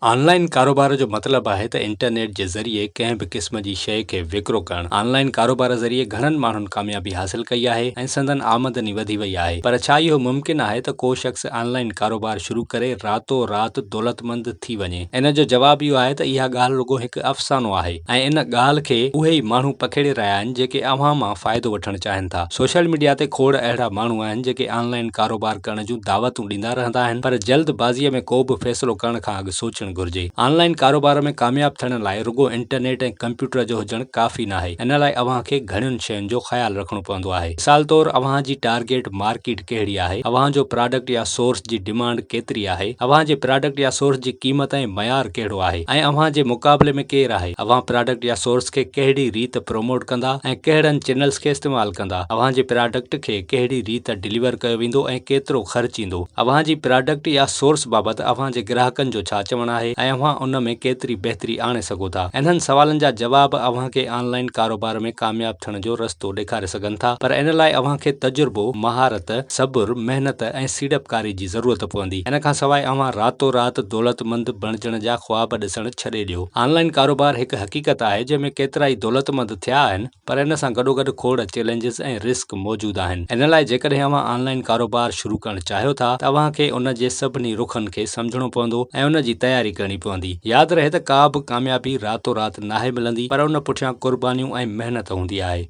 On line ڪاروبار جو مطلب آهي ته انٽرنيٽ جي ذريعي ڪنهن به قسم جي شيء کي وڪرو ڪرڻ. آن لائن ڪاروبار ذريعي گهڻن ماڻهن ڪاميابي حاصل ڪئي آهي ۽ سندن آمدني وڌي وئي آهي. پر ڇا اهو ممڪن آهي ته ڪو شخص آن لائن ڪاروبار شروع ڪري راتو رات دولتمند ٿي وڃي؟ ان جو جواب اهو آهي ته اها ڳالهه رڳو هڪ افسانو آهي ۽ ان ڳالهه کي اهي ئي ماڻهو پکيڙي رهيا آهن جيڪي اوهان مان فائدو وٺڻ چاهين ٿا. سوشل ميڊيا تي کوڙ اهڙا ماڻهو آهن جيڪي آن لائن ڪاروبار ڪرڻ جي جون دعوتون ڏيندا رهندا آهن پر جلد بازيء ۾ ڪو به فيصلو ڪرڻ کان اڳ سوچڻ گهرجي. آن لائين ڪاروبار ۾ ڪامياب ٿيڻ لاء رڳو انٽرنيٽ ۽ ڪمپيوٽر جو هجڻ ڪافي ناهي ان لاء اوهان کي گهڻين شين جو خيال رکڻو پوندو آهي مثال طور اوهان جي ٽارگيٽ مارڪيٽ ڪهڙي آهي اوهان جو پراڊڪٽ يا سورس جي ڊمانڊ ڪيتري آهي اوهان جي پراڊڪٽ يا سورس جي قيمت ۽ معيار ڪهڙو آهي ۽ اوهان جي مقابلي ۾ ڪير آهي اوهان پراڊڪٽ يا سورس کي ڪهڙي ريت پروموٽ ڪندا ۽ ڪهڙن چينلز کي استعمال ڪندا اوهان جي پراڊڪٽ کي ڪهڙي ريت ڊليور ڪيو ويندو ۽ ڪيترو خرچ ايندو. اوهان جي پراڊڪٽ يا سورس بابت اوهان جي گراهڪن جو ڇا چوڻ آهي ۽ اوهان ان ۾ ڪيتري بهتري آڻي سگهو ٿا. انهن سوالن جا جواب اوهان کي آن لائين ڪاروبار ۾ ڪامياب ٿيڻ جو رستو ڏيکاري سگهن ٿا پر ان لاء اوهان کي تجربو، مهارت، صبر، محنت ۽ سيڙپڪاري جي ضرورت پوندي. ان کان سواء اوهان راتو رات دولتمند بڻجڻ جا خواب ڏسڻ ڇڏي ڏيو. آن لائين ڪاروبار هڪ حقيقت آهي جنهن ۾ ڪيترائي دولتمند ٿيا آهن. پر ان سان گڏوگڏ کوڙ چئلينجز ۽ رسڪ موجود آهن ان لاء جيڪڏهن اوهان آنلائن ڪاروبار شروع ڪرڻ چاهيو ٿا ته اوهان کي ان جي سڀني رخن کي سمجهڻو پوندو ۽ ان جي تياري ڪرڻي پوندي ياد رهي ته ڪا به ڪاميابي راتو رات ناهي ملندي پر ان پٺيان قربانيون ۽ محنت هوندي آهي.